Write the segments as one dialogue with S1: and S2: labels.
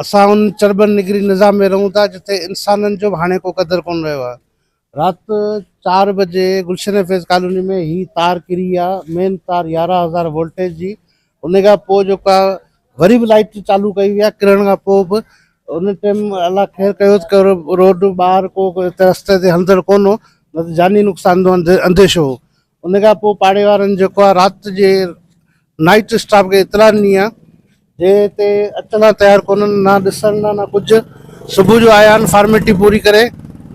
S1: اسان ان چرٻن نگري نظام ۾ رهون ٿا جتي انسانن جو به هاڻي ڪو قدر ڪونه رهيو آهي. رات چار بجي گلشن فيض ڪالوني ۾ هي تار ڪري يا مين تار يارهن هزار وولٽيج جي ان کان پوء جيڪا وري به لائٽ چالو ڪئي وئي آهي ڪرڻ کان پوء به ان ٽيم الله خير ڪيو ته روڊ ٻاهر ڪو رستي تي هلندڙ ڪونه هو نه ته جاني نقصان جو انديشو هو ان کان پوء پاڙي وارن جيڪو آهي رات جي نائيٽ اسٽاف کي اطلاع ڏني آهي جي هتي اچڻ لا تيار ڪونهن نه ڏسڻ لا نه ڪجهه صبح جو آيا آهن فارميلٽي پوري ڪري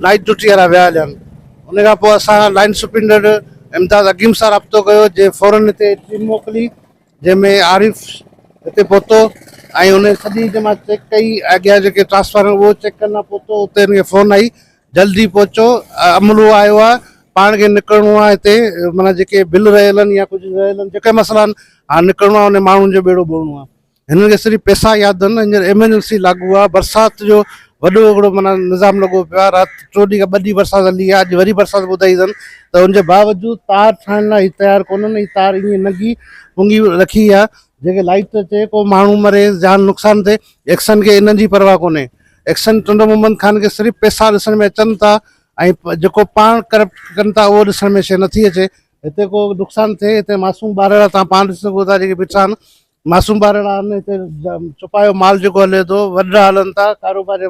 S1: نائيٽ ڊيوٽي وارا ويا هليا آهن ان کان پوء اسان لائين سپرينڊنٽ امداد عقيم سان رابطو ڪيو جنهن فورن هتي ٽيم موڪلي جنهن ۾ عارف هتي پهتو ۽ ان سڄي هتي مان چيڪ ڪئي اڳيان جيڪي ٽرانسفارمر اهو چيڪ ڪرڻ لا پهتو اتي هن کي فون آئي جلدي پهچو عملو آيو آ پاڻ کي نڪرڻو آ هتي معنيٰ جيڪي بل رهيلن يا ڪجهه رهيلن جيڪي مسئلا آهن هاڻ نڪرڻو آ انهن ماڻهن جو ٻيڙو ٻوڙڻو آ هنن کي صرف پيسا ياد آهن هينئر ايمرجنسي لاڳو آ برسات جو وڏو هڪڙو معنيٰ نظام لڳو پيو آ رات چو ڏينهن کان ٻه ڏينهن برسات هلي آ اڄ وري برسات ٻڌائي اٿن ته ان جي باوجود تار ٺاهڻ لاء هي تيار ڪونهن هي تار ائين ننگي پنگي رکي آ جيڪي لائٽ اچي ڪو ماڻهو مري جان نقصان ٿئي ايڪسن کي انهن جي پرواهه ڪونهي ايڪشن ٽنڊو محمد خان کي صرف پئسا ڏسڻ ۾ اچن ٿا ۽ جيڪو پاڻ ڪرپٽ ڪن ٿا اهو ڏسڻ ۾ شيء نٿي اچي هتي ڪو نقصان ٿئي هتي معصوم ٻارڙا تان پاڻ ڏسي سگهو ٿا جيڪي بيٺا آهن معصوم ٻارڙا آهن هتي چپايو مال جيڪو هلي ٿو وڏڙا هلن ٿا ڪاروباري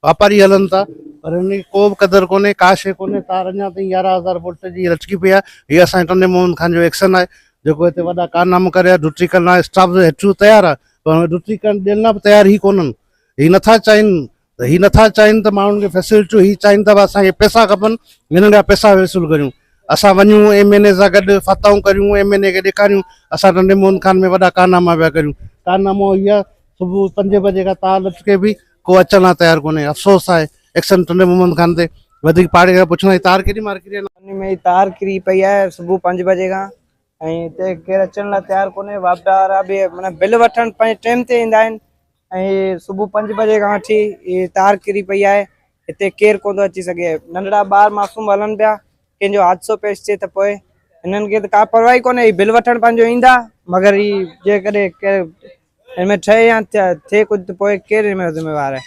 S1: واپاري هلن ٿا پر هن جي ڪو به قدر ڪونهي ڪا شيء ڪونهي تار اڃا تائين يارهن هزار وولٽ جي لٽڪي پئي آهي هي اسان جي ٽنڊي محمد خان جو ايڪشن آهي جيڪو هتي وڏا ڪارناما ڪري آهي ڊوٽي ڪرڻ لاء اسٽاف هيٺيون تيار آهي پر ڊوٽي ڪرڻ ڏيڻ لاء به تيار هي ڪونهن هي نٿا چاهين ته هي نٿا چاهين ته ماڻهن کي فيسلٽيون هي چاهين ته اسان کي پئسا کپن هنن کان پئسا وصول ڪريون اسان وڃون ايم اين اي سان گڏ فتحون ڪريون ايم اين اي کي ڏيکاريون اسان ٽنڊي موهن خان ۾ وڏا ڪارناما پيا ڪريون ڪارنامو هي آهي صبح پنج بجي کان تا لٽ کي به ڪو اچڻ لاء تيار ڪونهي افسوس آهي ايڪشن ٽنڊي محمد خان تي وڌيڪ پاڙي کان پڇڻ جي تار ڪيڏي مار ڪري ان ۾ تار ڪري
S2: پئي آهي صبح پنج بجي کان ۽ هتي ڪير اچڻ لاء تيار ڪونهي واپڊا وارا به معنيٰ بل وٺڻ پنهنجي ٽيم تي ايندا آهن ۽ صبح پنج بجي کان وٺي هي تار ڪري پئي آهي هتي ڪير ڪون ٿو اچي سگهي ننڍڙا ٻار معصوم هلن پيا ڪنهن جو حادثو پيش ٿئي ته پوء هنن کي ته ڪا پرواهي ڪونهي هي بل وٺڻ پنهنجو ايندا مگر هي جيڪڏهن ڪير هن ۾ ٺهي يا ٿئي ڪجهه ته پوء ڪير هن ۾ ذميوار آهي